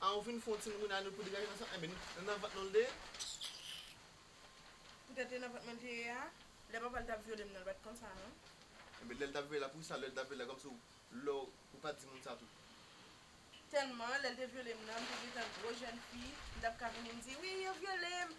Ah ou fin fon ti moun a nou pou degaje nan sa enben nan nan vant nou l te ye. Pou tèt e nan vant mwen l te ye a lè papa l tap vyole m nan l pat konsa non. Enben lèl tap vyole la pou sa lèl tap vyole la kòmsi ou lè ou pat di moun sa tou. Tèlman lèl te vyole m nan m te gentan gwo jèn fi m tap ka vini m di wi yo vyole m.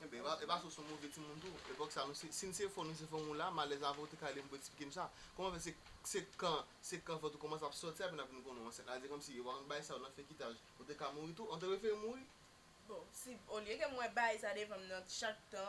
Enben, e pa se w se yon move timoun tou? Epòk sa, si n se fò, nou se fò moun la, m alèz avè w, ou te ka rele m pou eksplike m sa. Kòman fè se kan, se kan vant ou kòmanse ap sòti apre n ap vin konnen w ansent la? Se kòmsi yo pa konn bay sa yo nan fekitaj. Ou te ka mouri tou? An te prefere mouri? Bon, si, olye ke mwen bay sa devan m nan chak tan,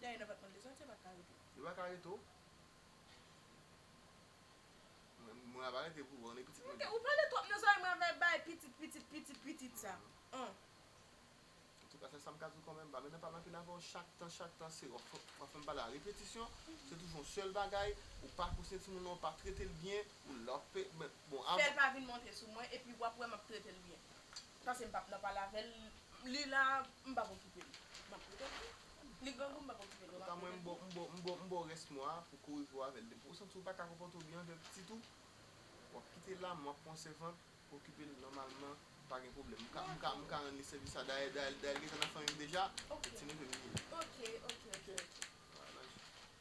Dayè nan pat mande sa tia pat ka rete w. Yo pa ka rete w. Mwen ava rete pou wè w e pitit mwen di. Ou pale twòp nan zòrèy mwen ava e bay pitit pitit pitit pitit sa an. Antouka sèl sam ka di w kòmèm pa menm pale anpil avè w chak tan chak tan se wap fèm pale a repetisyon se toujou yon sèl bagay ou pa kousye timoun nan ou pa trete l byen ou la w ap bon. Fèl pa vin monte sou mwen epi wap wè map trete l byen. Pase m pap nan pale avèl li la m pap okipe li map rete ak li li grangou m pap okipe li map rete ak li. M baw rès mwa a pou kouri pou avèl depi ou santi ou paka konpòte w byen avèl pitit ou wap kitel la m wap pran w sèvant pou okipel nòmalman pa gen pwoblèm m ka rann li sèvis la dayè dayè l gentan nan fanmi m deja se ti neve m li ye.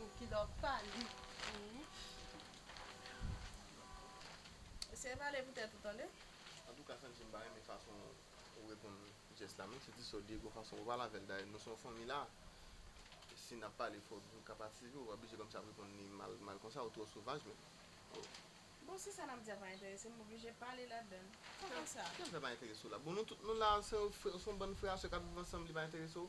Ou kidò pa li humm. Eseye pale pou tèt ou tande. Antouka Santi m pa renmen fason ou reponn Jess la menm si ti sè w Diego fason ou pale avè l dayè nou se yon fanmi la e si n ap pale fòk nou ka patisipe ou pa blije kòmsi ap reponn li mal mal konsa ou twò sovaj menm oh. Bon si sa n ap di a pa enterese m m oblije pale ladan l kòmansa. Kiyès sa pa enterese w la bon nou tout nou la se yon bann frè a sè k ap viv ansanm li pa enterese w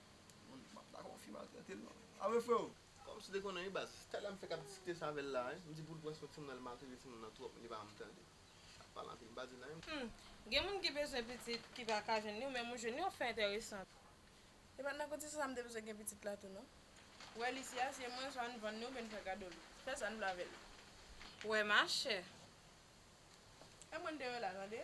Gen moun ki bezwen pitit ki pa ka jwenn li w menm ou jwenn li w ap fè entèresan. E pat nan kondisyon sa m te bezwen gen pitit la tou non. Wè li si a se mwen swa n vann li oubyen n fè kado li. Fè sa n vle avè li. Wè machè. E mwen deyò la tande.